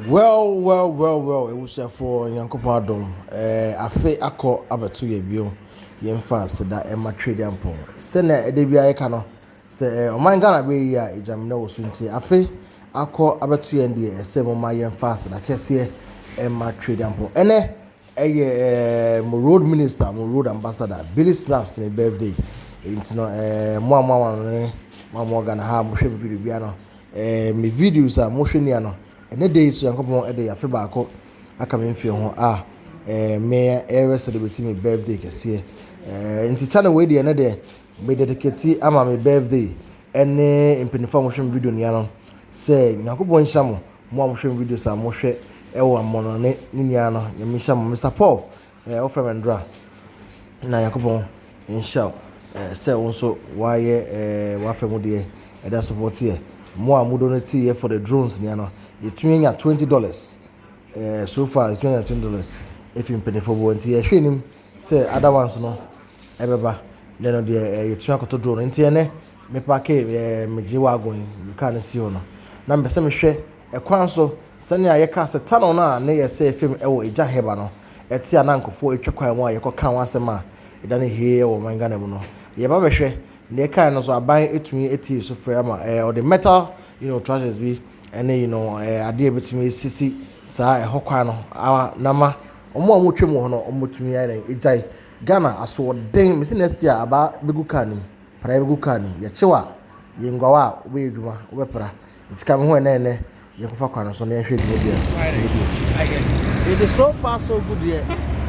Well well well well abusuafoɔ Nyankopɔn adom ɛɛ afe akɔ abɛto yɛ bio yɛ nfa seda ɛma Tweduampɔn sɛnea ɛda biara yɛka no sɛ ɛɛ ɔman Ghana bɛyɛ yie a egyamina wɔ so nti afe akɔ abɛto yɛn deɛ ɛsɛ moma yɛnfa seda kɛseɛ ɛma Tweduampɔn ɛnɛ Ɛyɛ eh mo road minister mo road ambassador Billy Snaps ne birthday nti no eh mo a mo aware ne mo a mo wɔ Ghana ha a mo hwɛ me video bia no eh me videos a mo hwɛ nia no ɛnɛ da yi so Nyankopɔn ɛde afe baako aka me mfie ho a eh me ɛyɛ celebrate me birthday kɛseɛ eh nti channel wei deɛ ɛnɛ deɛ me dedicate ama me birthday ɛne mpanyinfoɔ a mo hwɛ me video nia no sɛ Nyankopɔn nhyira mo Mo a mohwɛ me videos a mohwɛ ɛwɔ amono ne ne nua no nyame nhyira mo Mister Paul ɛɛ eh, wofrɛ me ndora na Nyankopɔn nhyira wo ɛɛ eh, sɛ wo nso wayɛ ɛɛ eh, wafɛ mu deɛ ɛda support yɛ mo a mo donate yɛ for the drones nea no yɛtumi anya twenty dollars ɛɛ so far yɛtumi anya twenty dollars efi mpanyinfoɔ bi wɔ nti yɛhwɛ anim sɛ other ones no ɛbɛba dɛn no deɛ ɛɛ yɛtumi akoto drone nti ɛnɛ Me paake ɛɛ me gye wagon yi me car no si hɔ no na mepɛ sɛ me hwɛ ɛkwan so sɛnea yɛ kaa sɛ tunnel no a ne yɛ sɛɛ fam ɛwɔ Agya Herber no ɛte a na nkorɔfoɔ ɛtwa kwan mu a yɛ kɔ kaa ho asɛm a ɛda no hee ɛwɔ ɔman Ghana mu no yɛ ba bɛhwɛ na yɛ kaa no nso aban ɛtumi ɛtie yɛ sufrɛ ama ɛɛ ɔde metal you know trusses bi ɛne you know ɛɛ adeɛ ɛbɛtumi ɛsisi saa ɛhɔ kwan no ama na ma wɔn a wɔtwa mu wɔ hɔ no wɔn ɛtumi ayɛ dɛn ɛgyae Ghana asoɔden mesi next year abaa bɛgu kaa no mu. Pra yɛbɛgu kar no mu. Yɛkyew a, yɛ nguaw a wobɛyɛ adwuma, wobɛpra. Enti ka me ho ɛnnɛ ɛnnɛ, yɛnkɔfa kwan no so na yɛnhwɛ dwumadie a yɛbɛdi akyi. Enti so far so good deɛ,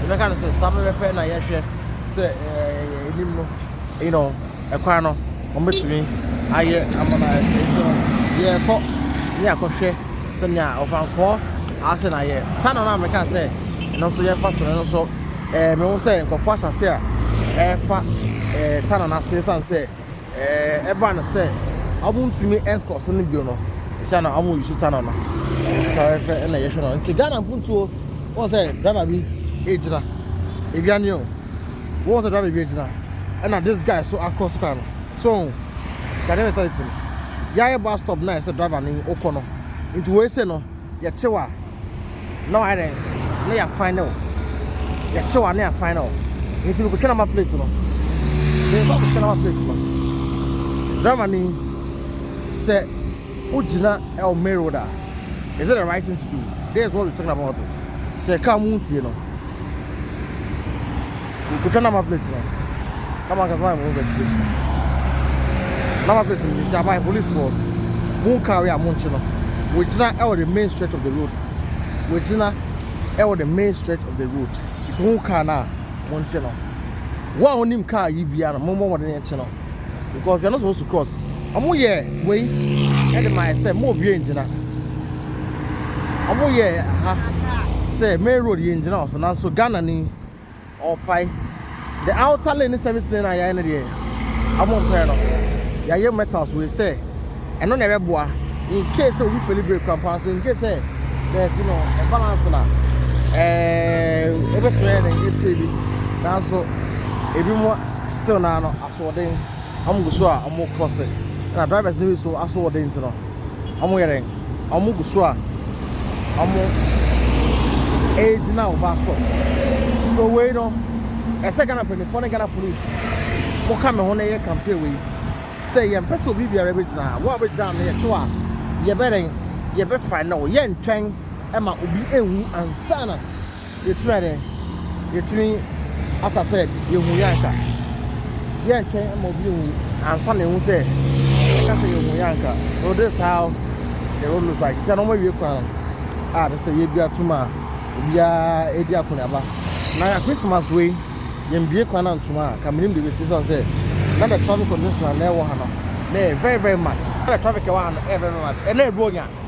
yɛbɛka no sɛ saa pɛpɛpɛ na yɛhwɛ sɛ ɛɛ anim no, you know, ɛkwan no wɔbɛtumi ayɛ ama no ayɛ fɛ. Enti no, yɛrekɔ ne yɛakɔhwɛ sɛnea Ɔfankɔɔ ase na ayɛ. Tunnel no a meka sɛ ɛno nso yɛmfa so no, ɛno nso, Mehu sɛ nkurɔfoɔ asase a ɛrefa Tana no ase ɛsiane sɛ ɛbaa no sɛ wɔntumi nkɔso no bio no nti na wɔn yi so Tana no fɛfɛ ɛna yɛhwɛ no nti Ghana mpuntuo wɔn sɛ driver bi egyina ebi ani o wɔn sɛ driver bi egyina ɛna this guy so akɔ so kaa no so Ghana mentality no yɛayɛ bus stop na ɛsɛ driver no okɔ no nti wɔn ese no. Yɛte wo a, na wayɛ dɛn? Na yɛafan ne wo. Yɛte wo a, na yɛafan ne wo. Nti mekɔtwa nama plate no. Mekɔ akɔtwa nama plate no. Driver ni, sɛ wogyina ɛwɔ main road a, is it the right thing to do? This is what we're talking about. Sɛ car mu ntie no. Mekotwa na ma plate no na ma ankasa ma yɛ mo investigation na ma plate no nti ama yɛ police foɔ mo nkaa wei a mo nkye no wɔgyina ɛwɔ the main stretch of the road wɔgyina ɛwɔ the main stretch of the road nti ho kaa no a mo nkye no wo a wonim kaa yi bia no mo mmɔ wɔde nkye no because you are not supposed to cross ɔmo yɛ wei ɛde ma ɛsɛ mo obie ngyina ɔmo yɛ ha sɛ main road yɛ ngyina ɔso nanso Ghana ni Ɔpae. The outer lane ne service lane a yɛayɛ no deɛ ɔmo mpɛ no. Yɛayɛ metals wei sɛ ɛno na ɛbɛboa in case sɛ obi feli brake koraa mpo so in case sɛ bɛɛsi no ɛbalance na ɛɛ ebetumi ayɛ dɛn ese bi nanso ebi mo still na ano asoɔden ɔmo gu so a ɔmo kɔ se na drivers no bi so asoɔden ti no. Ɔmo yɛ dɛn? Ɔmo gu so a ɔmo ɛɛgyina wo bus stop. So wei no ɛsɛ Ghana mpaninfoɔ ne Ghana police mo ka me ho na yɛ campaign wei. Sɛ yɛn pɛ sɛ obi biara bɛ gyina ha, wo a bɛ gyina ha no yɛ to a yɛ bɛ dɛn? Yɛ bɛ fine wo. Yɛn ntwɛn ɛma obi ɛnwu ansana. Yɛkyerɛ dɛ yetumi aka sɛ yehu yɛn anka. Yɛntwɛn mma obi nwu ansa na yɛahu sɛ yɛka sɛ yehu yɛn anka. So this is how the road looks like? Sɛ na wɔawie kwan a ɛsɛ sɛ yedua to ma obiara adi akɔneaba. Na Christmas wei, yɛmbue kwan antom a, anka menim deɛ ɛbɛsi esiane sɛ na the traffic congestion a na ɛwɔ ha no na ɛyɛ very very much. Na the traffic a ɛwɔ ha no ɛyɛ very very much. Ɛnna ɛyɛ Buronya.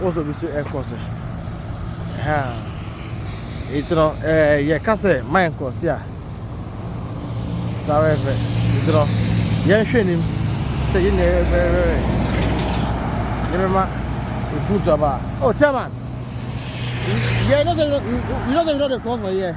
Wo so bi so ɛkɔ se ɛhaa eti no ɛɛ yɛ ka sɛ mind kɔ se a saa wɛ fɛ eti no yɛn hwɛ nim sɛ yɛ nyɛ wɛ wɛ wɛ yɛ bɛ ma efu to aba oh chairman yeah you know say you know say you know the cross for here.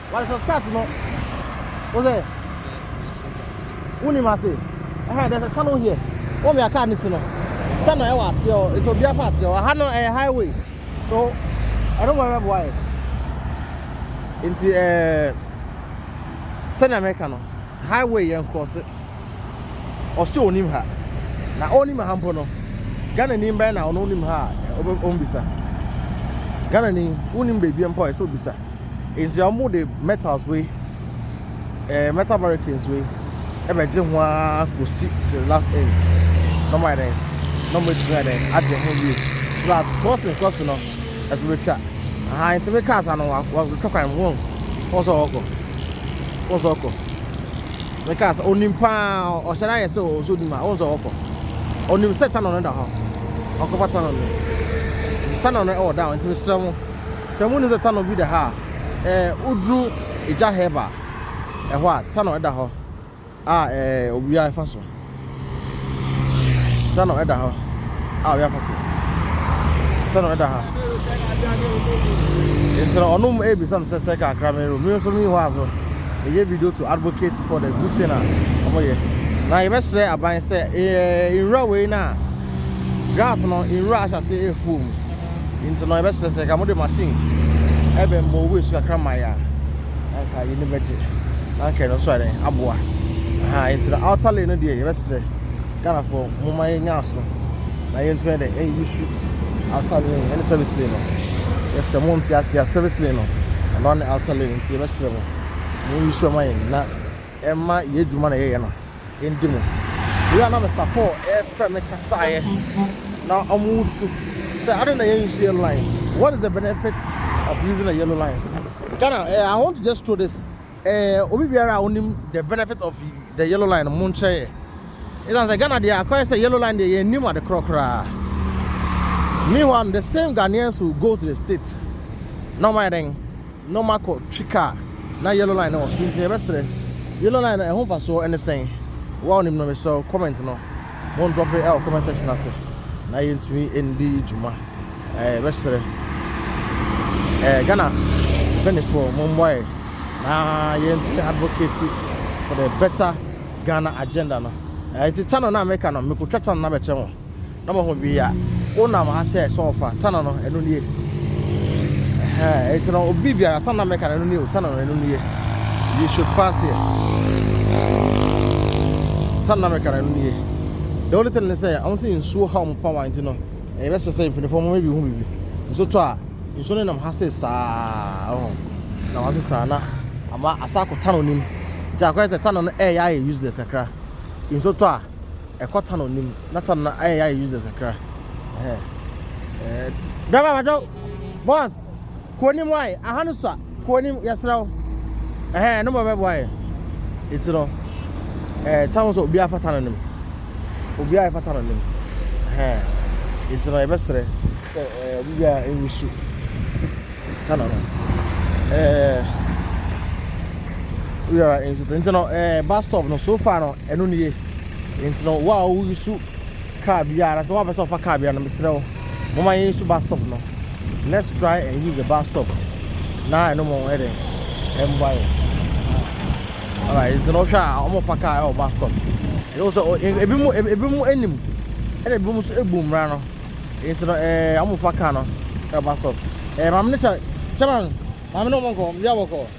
Why so start no? What's it? Who name I say? Eh, there's a tunnel here. What we are car this no? Tunnel I was here. It's a beer fast here. I had no a eh, highway. So I don't worry why. Into eh, South America no highway yẹn cross it. Ọsẹ onim ha. Na onim ha mpo no. Ghana ni mbẹ na ọno onim ha. Ọbẹ ọmbisa. Ghana ni onim beebi mpo ọsẹ obisa. Enti wɔde metals wei, ɛɛ metal barricades wei ɛbɛgye ho ara kɔsi to the last end. Na wɔayɛ dɛn? Na wɔatumi ayɛ dɛn? Agye ho yie. So that crossing crossing no ɛso bɛtwa. Aha nti me cars ano wɔatwa kwan mu wɔn. Wɔn sɛ ɔkɔ. Wɔn sɛ ɔkɔ. Me cars onim paa ɔhyɛ no ayɛ sɛ ɔsɛ onim a wɔn sɛ ɔkɔ. Onim sɛ tunnel no da hɔ. Ɔkɔfa tunnel no. Tunnel no ɛwɔ down nti mesrɛ mo. Sɛ munnim sɛ Tsano bi da ha a, eh, woduru Egya Herb a, eh, hɔ a, Tsano da hɔ a, eh, owia fa so. Tsano da hɔ a, owia fa so. Tsano da ha. Nti no, ɔno mmom ebisa me sɛ, sɛ kakra me ro, me nso menni hɔ a so meyɛ video to advocate for the good thing a wɔyɛ. Na yɛbɛsrɛ aban sɛ, eh, nwura wei no a, grass no, nwura ahyɛ ase afuo mu. Enti no, yɛbɛsrɛ sɛ anka mode machine bɛmmɔ owu asu kakra mmae a, na anka yɛn ani bɛgye, na anka ɛno nso ayɛ dɛn, aboa. Ahaa, enti no outer lane no deɛ yɛbɛsrɛ Ghanafoɔ momma yɛnyɛ aso na yɛntumi ayɛ dɛn, ɛnuse outer lane ɛne service lane no. Yɛsrɛ mo nte aseɛ a, service lane no, ɛno ne outer lane, enti yɛbɛsrɛ mo, monyɛ sure ma yɛn na. mma yɛn adwuma na yɛyɛ no ndi mu. Bere a na Mister Paul refrɛ me kasaeɛ na wɔresu sɛ adɛn na yɛn nsi yellow lines, what is the benefit of using the yellow lines? Ghana, eh, I want to just throw this, eh, obi biara a onim the benefit of the yellow line no monkyerɛ yɛ. Ɛsan sɛ Ghana deɛ akɔyɛ sɛ yellow line deɛ yɛn nim ade korɔ koraa. Meanwhile, the same Ghanaians will go to the state na wɔn ayɛ dɛn? na ɔma kɔ twi car na yellow line no wɔ so nti yɛbɛsrɛ yellow line no ɛho mfasoɔ ɛne sɛn wo a onim no mesrɛ wo comment no mo ndrɔpe ɛwɔ comment section ase na yɛntumi ndi dwuma ɛɛ yɛbɛsrɛ ɛɛ Ghana mpanyinfoɔ mo mmoa yɛ na yɛntumi advocate for the better Ghana agenda no ɛɛ nti tano na meka no mekotwa tano na bɛkyɛ ho. na mo ho wee a, wonam ha sɛ sɛ ɔfa tana no, ɛno nie. Ɛhɛn, enti no, obi biara, tana na mɛka no, ɛno nie o, tana no, ɛno nie. You should pass here. Tana na mɛka no, ɛno nie. The only thing ne sɛ, wɔn sɛ nsuo ha wɔn pawa, enti no, ɛyɛ bɛsɛ sɛ mpanimfoɔ mo maybe hu biribi. Nsuo tɔ a, nsuo no nam ha sɛ saa, ɔho, nam ha sɛ saa, na ama asa akɔ tana no nim. Nti akɔyɛ sɛ tana no ɛyɛ ayɛ useless kakra. Nsuo tɔ a. Ɛkɔ ta na onim na ta na ayɛ yɛ users akra. Driver bajo boss kuonim why aha no sua kuonim yɛsrɛ wo ɛhɛn no bɛbɛ boa yɛ eti no ɛɛ ta ho sɛ obiara fata no nim obiara ɛfata no nim ɛhɛn eti no yɛbɛsrɛ sɛ ɛɛ obi biara ɛnsu ta na no ɛɛ obiara ɛnsu ta eti no ɛɛ bus stop no so far no ɛno nie. Enti no wo a wo resu car biara anaa sɛ woapɛ sɛ ɔfa car biara no mesrɛ wo momma yɛn su bus stop no let's try and use the bus stop na ɛno mo yɛ dɛn ɛmboa yɛ alright enti no wohwɛ a wɔn fa car ɛwɔ bus stop ɛyɛ wo sɛ ebi mo ebi mo anim ɛna ebi mo nso ebu mmara no enti no ɛɛ wɔn fa car no ɛwɔ bus stop ɛɛ maame ne sɛ sɛ maame maame ne wɔn nkɔ bi a wɔkɔ.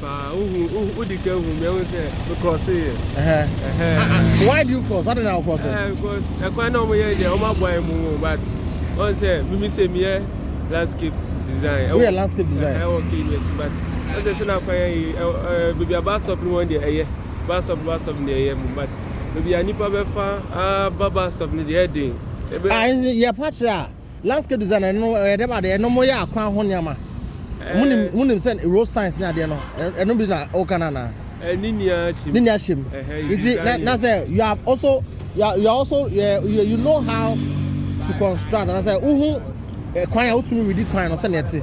Paa wohu wodi kan hu mi ɛho sɛ me cross yɛ. Why do you cross? Adi na o cross? Because ɛkwan na wɔn yɛ deɛ wɔn aboa yɛ mu wɔn but wɔn sɛ mimi sɛ mi yɛ landscape design. Wo yɛ landscape design? Ɛwɔ K University but wɔn sɛ sɛ na akwan yɛ yi ɛɛ beebi a bus stop ni wɔn deɛ ɛyɛ bus stop bus stop ni deɛ ɛyɛ mu but beebi a nipa bɛfa aba bus stop ni deɛ ɛden. Ah, yɛ pakyɛ a. Landscape design no no ɛyɛ dɛm adeɛ ɛnom yɛ akwan ho nneɛma monim monim sɛ road signs ne adeɛ no ɛno bi na ɔka no anaa ne ni ahyem ne ni ahyem nti na na sɛ you are also you are, you are also you, you know how to construct na sɛ wohu kwan a wotumi redi kwan no sɛnea ɛte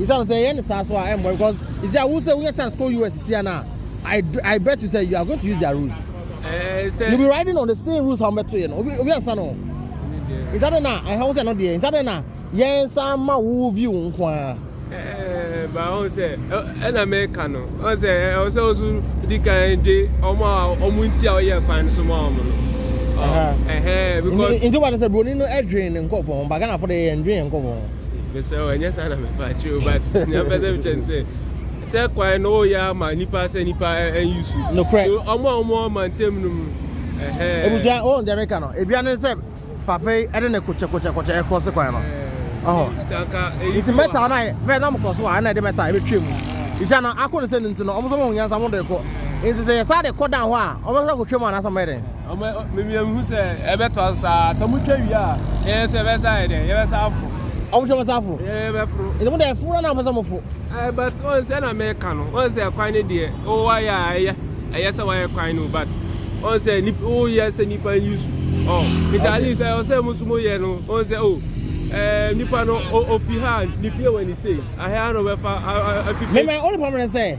Esiane sɛ yɛyɛ no saa so a ɛmmoa because you see a wo sɛ wonya chance kɔ US sia no a I I bet you sɛ you are going to use their rules. You be riding on the same rules a wɔbɛtoeɛ no obi obi ansa no ho. Nti adɛn na ɛha wo sɛ ɛno deɛ nti adɛn na yɛn nsa ma wo view nko ara. Ɛɛ ba ɔn sɛ ɛna mɛka no ɔn sɛ ɛwɔ sɛ ɔso di kan de ɔmo a ɔmo nti a ɔyɛ kwan no so ma ɔmo no. Ɛhɛn because. Nti wɔn sɛ broni no ɛdwen ne nkɔfo ho ba Ghana fo de yɛn dwen yɛn nkɔfo ho. Mesrɛ wo, ɛnyɛ saa na mepɛ akyerɛ o, but nea mpɛ sɛ mekyerɛ ne sɛ, sɛ kwan no woyɛ ama nipa sɛ nipa ɛnyi su. Nokorɛ. So ɔmo a ɔmo ɔma ntɛm no mu, ɛhɛɛ. Ebusua, wohu deɛ meka no, ebia ne sɛ papa yi ɛde ne kokyɛ kokyɛ kokyɛ ɛkrɔse kwan no. Ɔho. Nti sɛ anka eyi bi wɔ. Nti mɛta no ayɛ, bɛɛ na ɔmo kɔ so a, ɛna ɛde mɛta ɛbɛtwa mu. Nti ana, ako ne sɛ no nti no, ɔmo nso ɔmo hu nyansa ɔmo de kɔ. Nti sɛ yɛ saa de kɔ dan hɔ a, ɔmo bɛsan akɔtwa mu anaasɛ ɔmo bɛyɛ dɛn? Ɔma mimia mihu sɛ ɛbɛtoa so saa sɛ mo twa wie a ɛyɛ sɛ ɛbɛsa ayɛ dɛ yɛbɛsa aforo. Ɔmo twa bɛsa aforo. Ɛɛ bɛforo. Ɛsɛ mo dɛ ɛforo na na ɔpɛ sɛ ɔmo fo. Ɛɛ but wɔn sɛ na mɛka no wɔn sɛ kwan ne deɛ o wayɛ a ɛyɛ ɛyɛ sɛ wayɛ kwan no but wɔn sɛ nip o yɛ sɛ nipa yi su ɔ ntaali sɛ ɔsɛ mo so mo yɛ no wɔn sɛ o ɛɛ nipa no o ofi ha nipie wɔ ne sei ahɛ ano bɛfa afifi. Mɛmɛ ɔne pɔmɛ sɛ.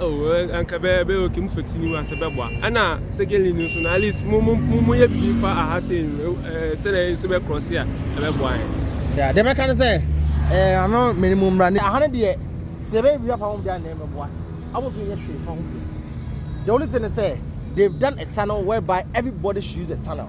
Oh eh anka bɛ bɛ okay mo fix ni wa sɛ bɛ boa ɛna secondly ni nso no at least mo mo mo yɛ bibi fa aha sɛ no eh sɛ na nso bɛ cross a ɛbɛ boa yɛ. Yeah deɛ mɛka ne sɛ eh ano mene mo mmra ne aha ne deɛ sɛ bɛ bibi fa ho deɛ ne bɛ boa ɔmo nso yɛ hwee fa ho deɛ the only thing ne sɛ they've done a tunnel whereby everybody should use a tunnel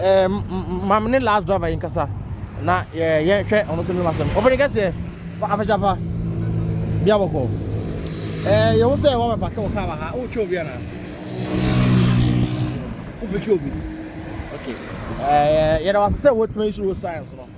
Ɛɛ, ma me ne last driver yi nkasa na yɛhwɛ ɔno nso ne masɛm. Ɔfɛne kɛseɛ, afɛhyɛ pa, bia bɔkɔ. Ɛɛ, yɛwo sɛ wɔbɛ pake wɔ kaa wɔ ha, wotwe obi anaa? Wofɛtwe obi? Okay. Ɛɛ, yɛda wase sɛ wotumi nhyiri wo science no.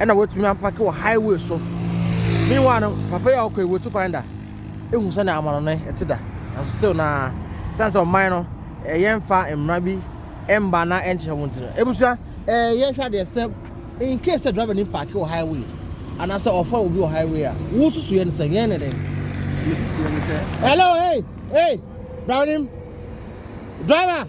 ɛna watumi apake wɔ highway so meanwhile no papa yi a ɔkɔ yi wɔtu kwan da ehu sɛ na amano no ɛte da nanso still na san sɛ ɔman no ɛyɛ nfa mmara bi ɛmba na ɛnkyerɛ wɔn ti no ebusua ɛɛ yɛn hwɛ adeɛ sɛ in case sɛ driver ni paake wɔ highway anaasɛ ɔfa obi wɔ highway a wosusu yɛn sɛ yɛn ne dɛn hello hey hey driver driver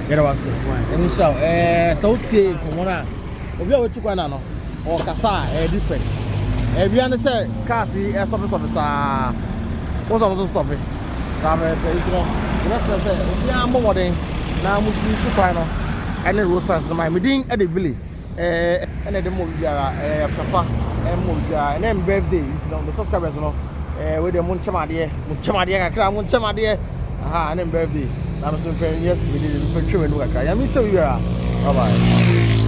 Yɛda wase. Ɛmu nhyira wo. Ɛɛ sɛ wotie nkɔmmɔ no a, obi a watu kwan na no, ɔkasa a ɛyɛ different. Ɛbia ne sɛ cars yi ɛsɔfe sɔfe saa. Wo sɛ ɔmo nso stɔfe. Saa pɛpɛpɛ nti no, yɛbɛsrɛ sɛ obiara mmɔ mmɔden na mo use kwan no ɛne road signs no ma yɛn. Me din ɛde Billy. Ɛna de mɔ obibiara ɛyɛ papa ɛmɔ obibiara ɛna ɛm birthday nti no me subscribers no ɛɛ wei deɛ mo nkyɛm adeɛ mo nkyɛm adeɛ kakra mo nkyɛm adeɛ aha ɛna ɛm birthday na me so mpɛ yes me de mpɛ twɛ wɛnum kakra yɛn mi sɛ obibiara bye bye.